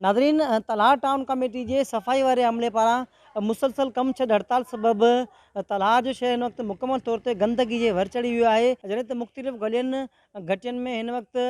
ناظرين Talhar town committee جي صفائي واري عملي پاران مسلسل ڪم ڇڏ هڙتال سبب تلهار جو شهر هن وقت مڪمل طور تي گندگي جي ور چڙهي ويو آهي جڏهن ته مختلف گلين گهٽين ۾ هن وقت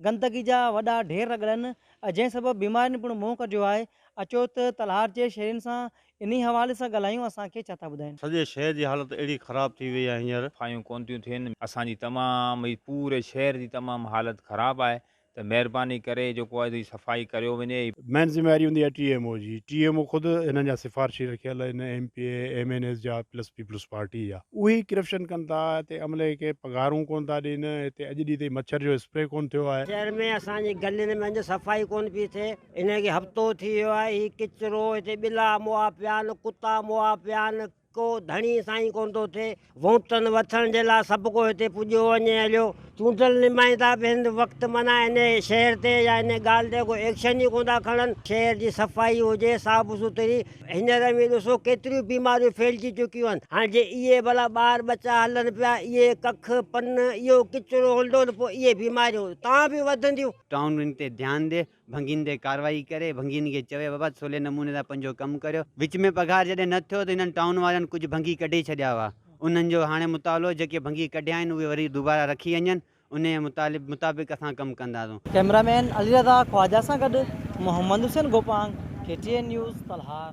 گندگي جا وڏا ڍير رڳڙن جنهن سبب بيمارين پڻ منهن ڪڍيو آهي اچو ته تلهار جي شهرين سان انهي حوالي سان ڳالهايون اسان کي ڇا ٿا ٻڌائين. سڄي شهر جي حالت اهڙي خراب ٿي وئي آهي هينئر. صفايون ڪون ٿيون ٿين اسان جي تمام هي پوري شهر جي تمام حالت خراب آهي ته مهرباني ڪري جيڪو آهي سي صفائي ڪريو وڃي. مين ذميواري هوندي آهي ٽي ايم او جي، ٽي ايم او خود انهن جا سفارشي رکيل آهن M P A M N As جا پلس پيپلز پارٽي جا. اهي ئي ڪرپشن ڪن ٿا هتي عملي کي پگهارون ڪون ٿا ڏين هتي اڄ ڏينهن تائين مڇر جو اسپري ڪون ٿيو آهي. شهر ۾ اسان جي گلين ۾ اڃ صفائي ڪون پي ٿئي انهن کي هفتو ٿي ويو آهي هي ڪچرو هتي ٻلا مئا پيا آهن ڪتا مئا پيا آهن. ڪو ڌڻي سائين ڪونه ٿو ٿئي، ووٽن وٺڻ جي لاء سڀ ڪو هتي پڄيو وڃي هليو، چونڊيل نمائندا به هن وقت معنيٰ ان شهر تي يا ان ڳالهه تي ڪو ايڪشن ئي ڪونه ٿا کڻن، شهر جي صفائي هجي، صاف سٿري، هينئر اوهين ڏسو ڪيتريون بيماريون ڦهلجي چڪيون آهن، هاڻ جي اهي ڀلا ٻار ٻچا هلن پيا، اهي ڪک، پن، اهو ڪچرو هلندو ته پوء اهي بيماريون اتان به وڌنديون. ٽائونن تي ڌيان ڏي، ڀنگين تي ڪارروائي ڪري ڀنگين کي چوي بابا سولي نموني سان پنهنجو ڪم ڪريو وچ ۾ پگهار جڏهن نه ٿيو ته هنن ٽائون وارن ڪجهه ڀنگي ڪڍي ڇڏيا هئا انهن جو هاڻي مطالعو جيڪي ڀنگي ڪڍيا آهن اهي وري دوباره رکي وڃن انهيء مطالب مطابق اسان ڪم ڪنداسون. ڪئميرا مين علي رضا خواجه سان گڏ Muhammad Hussain Gopang, K T N news, Talhar.